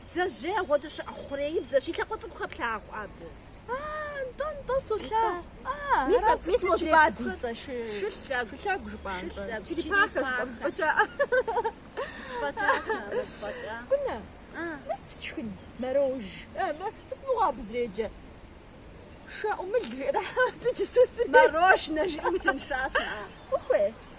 Бдзэжьей апхуэдэу щыӏэ хъуреибзэщ, и лъакъуэ цӏыкӏу хэплъагъу абы. Нтӏэ-нтӏэ, солъагъу. Мис а пцӏы пхуэщӏ бади. Шылъэгу, шылъэгу жыпӏэ нтӏэ. Черепахэ жыпӏэ, вспӏэкӏа. Вспӏэкӏа, сабэ, вспӏэкӏа. Кӏунэ, нэс тшхын, мэрож. Сыт мыгъуэ абы зэреджэр? Шэ ӏумыл жиӏэрэ абы иджы сэ сыреджэ. Мэрожнэ жиӏэм тынша щыӏэ. Ухуей?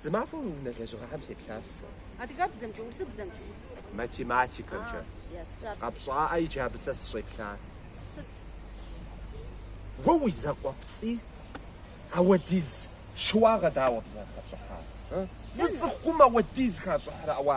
Зы махуэ уи унэ лэжьыгъэхэм сеплъас сэ. Адыгэбзэмкӏэ, урысыбзэмкӏи? Математикэмкӏэ. Къэпщӏаӏэ иджы абы сэ сыщӏеплъа. Сыт? Уэ уи закъуэпцӏий ауэдиз щыуагъэ дауэ абы зэрыхэпщӏыхьар? Зы цӏыхум ауэдиз хащӏыхьрэ ауэ